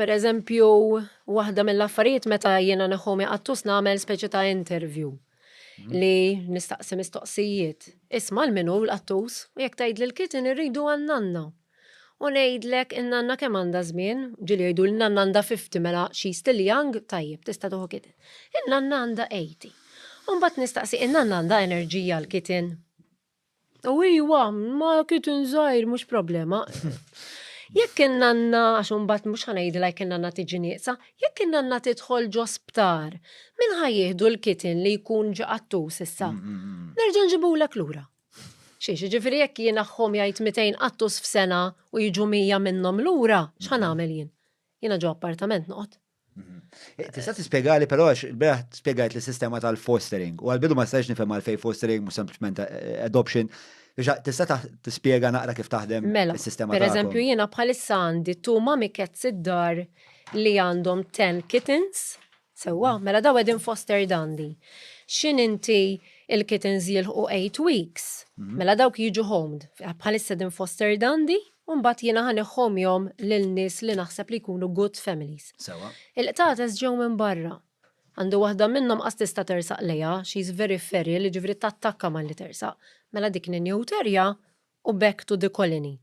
Per eżempju, waħda mill-affarijiet meta jiena neħu mi qattus nagħmel speċi ta' interview li nistaqsi mistoqsijiet. Isma' l-minu l-qattus u jekk tgħid lil kiti nirridu għan-nanna. U ngħidlek in-nanna kemm għandha żmien, ġieli jgħidu l-nanna għandha fifty mela she still young, tajjeb tista' tieħu kiti. In-nanna għandha eighty. U mbagħad nistaqsi in-nanna għandha enerġija l-kiti? U iwa, ma kiet nżajr, mux problema. Jekk kien nanna, għax unbat mux ħanajdi laj kien nanna tiġi nieqsa, jekk kien nanna tidħol ġo sptar, min ħaj jihdu l-kitin li jkun ġi qattus issa? Nerġa nġibulek lura. Xiex, ġifiri jekk jien aħħom jgħid 200 qattus f'sena u jiġu 100 minnom lura, x'ħa nagħmel jien? Jiena ġo appartament noqgħod. Tista' tispjegali però għax il-beraħ spjegajt li sistema tal-fostering u għal-bidu ma stajx nifhem għal fej fostering mhux sempliċement eh, adoption. Tista' tispjega naqra kif taħdem mela, is-sistema tal-fostering. Per eżempju jiena bħalissa għandi tu mami cats id-dar li għandhom 10 kittens, sewwa, mela daw qegħdin foster dandi. X'in inti il-kittens jilħu 8 weeks, mhm. mela dawk jiġu homed, bħalissa din foster dandi, u mbagħad jiena ħa neħħhom jom lil nies li naħseb li jkunu good families. Sewwa. Il-qtates ġew minn barra. Għandu waħda minnhom qas tista' tersaq lejha, she's very feral, jiġifieri tattakka malli tersaq. Mela dik ninjut erja u back to the colony.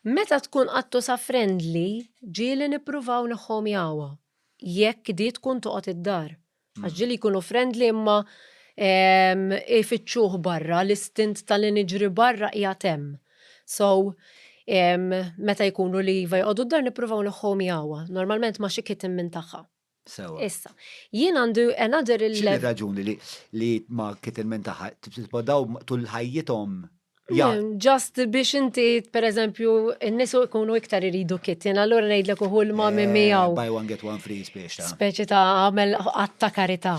Meta tkun qattusa friendly, ġieli nippruvaw neħħhom jahwa. Jekk di tkun toqgħod id-dar. Għax ġili jkunu friendly imma ehm, ifittxuh barra, l-istint tal-li niġri barra hija tem. So, ehm, meta jkunu li jiva jgħodu d-dar nippruvaw neħħom jawa, normalment ma xi kitten minn tagħha. Sewa. Issa, jien għandu another il- X'inhi raġuni li li ma kitten minn tagħha tibqgħu tul ħajjithom Ja. Mm, Just biex inti, per eżempju, n-nisu ikunu iktar iridu kittin, allura ngħidlek uħu l-mami Eh, miegħu. Buy one get one free spiex ta'. Speċi ta' għamel għatta karita.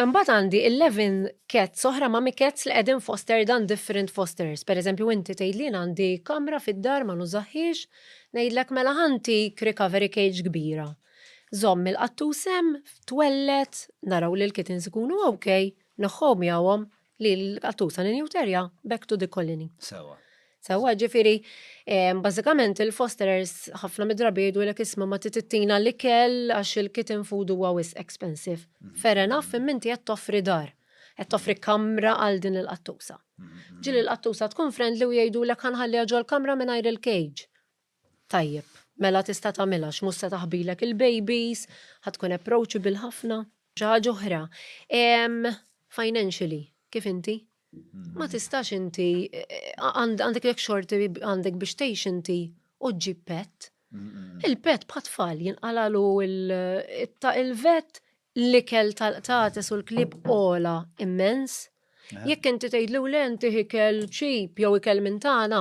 Mbat għandi 11 cats oħra ma' cats li qegħdin foster dan different fosters. Per eżempju, inti tgħidli "Jien għandi kamra fid-dar ma nużaħħiex, ngħidlek mela ħanti recovery cage kbira. Żomm il-qattusem, twellet, naraw li l-kittens ikunu ok, Nħobb miegħuhom li l-qattusa ninjuterja back to the colony. Sewa. Sewa, ġifiri, bażikament il-fosterers ħafna midrabi jgħidu l isma ma titittina li kell għax il-kitten food huwa wis expensive. Mhm. Fair enough, imma inti qed toffri dar, qed toffri mhm. kamra għal din il-qattusa. Mhm, Ġili l-qattusa tkun friendly u jgħidu l-ek ħanħalliha ġol-kamra mingħajr il-cage. Tajjeb, mela tista' tagħmilha għax mhux se taħbilek il-babies, ħa tkun approachable ħafna. Xi ħaġa oħra, financially, kif inti? Ma tistax inti, għandek jekk xorti għandek biex tgħix inti u ġġib pet. Il-pet bħat tfal jinqalagħlu il-vet, l-ikel tal-qtates u l-klieb ogħla immens. Jekk inti tgħidlu le inti ikel cheap jew ikel minn tagħna,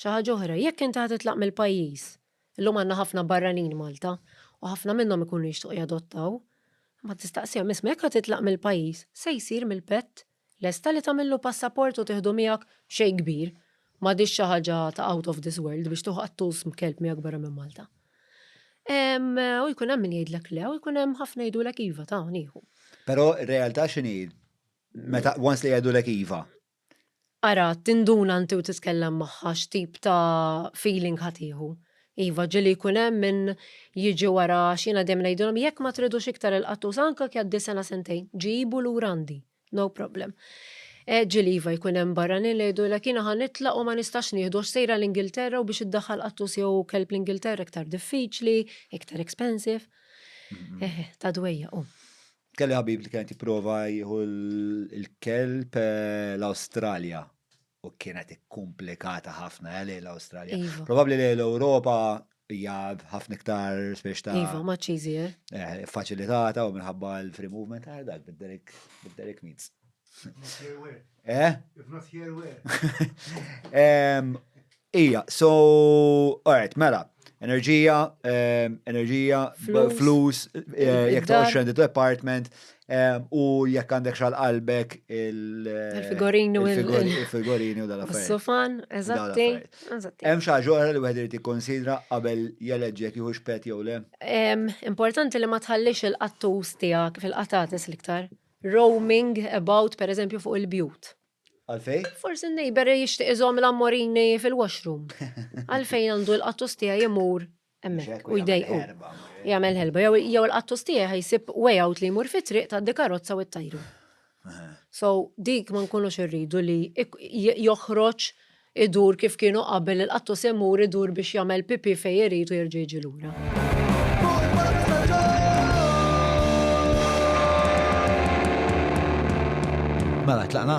Xi ħaġa oħra, jekk inti ħa titlaq mill-pajjiż, illum għandna ħafna barranin Malta u ħafna minnhom ikunu jixtiequ jadottaw, imma tistaqsihom, isma' jekk ħa titlaq mill-pajjiż, se jsir mill-pett? Lesta li tagħmillu passaport u tieħdu miegħek? B'xejn kbir. M'għadhiex xi ħaġa ta' out of this world biex tieħu qattus b'kelb miegħek barra minn Malta. U jkun hemm min jgħidlek le u jkun hemm ħafna jgħidulek iva ta' nieħu. Però r-realtà x'inhi? Meta once li jgħidulek iva, Ara, tinduna inti u titkellem magħha x'tip ta' feeling ħa tieħu. Iva, ġieli jkun hemm min jiġi wara għax jiena dejjem ngħidilhom jekk ma tridux iktar il-qattus anke jekk jgħaddi sena sentejn, ġibu lura għandi, no problem. Ġieli iva jkun hemm barranin li jgħidulek jiena ħa nitlaq u ma nistax nieħdu għax sejra l-Ingilterra u biex iddaħħal qattus jew kelb l-Ingilterra iktar diffiċli, iktar expensive. Eħe, ta' dwejjaq hu. Kelli ħabib li kienet jipprova jieħu l-kelb eh, l-Awstralja u kienet ikkumplikata ħafna eh, lejn l-Awstralja. Iva. Probabbli lejn l-Ewropa hija ħafna iktar spiex ta' Iva, much easier. eh, faċilitata u minħabba l-free movement għal dak bid-Derek bid-Derek Meads. If not here, where? Eh? If not here, where? Em, Ija, so, alright, mela, enerġija, enerġija, flus, jek ta' xendu department, u jek għandek xal qalbek il-figorini u il-figorini u dal Sofan, eżatti. Hemm xi ġora li wieħed irid jikkonsidra qabel jeleġġek jieħu xpet jew le? Importanti li ma tħallix il-qattus tiegħek fil-qatates l-iktar. Roaming about, per eżempju, fuq il-bjut. Għalfejn? Forsi n-neighbour jixtieq iżomm l-ammorini fil-washroom. Għalfejn għandu l-qattus tiegħi imur hemmhekk u jdejqu? Jagħmel ħelba. Jew il-qattus tiegħi ħa jsib way out li jmur fit-triq tad-dikarozza u t-tajru. So, dik ma nkunux irridu li joħroġ Idur kif kienu qabel il-qattu se jmur idur biex jagħmel pipì fejn irid u jerġa' jiġi lura. Mela tlaqna?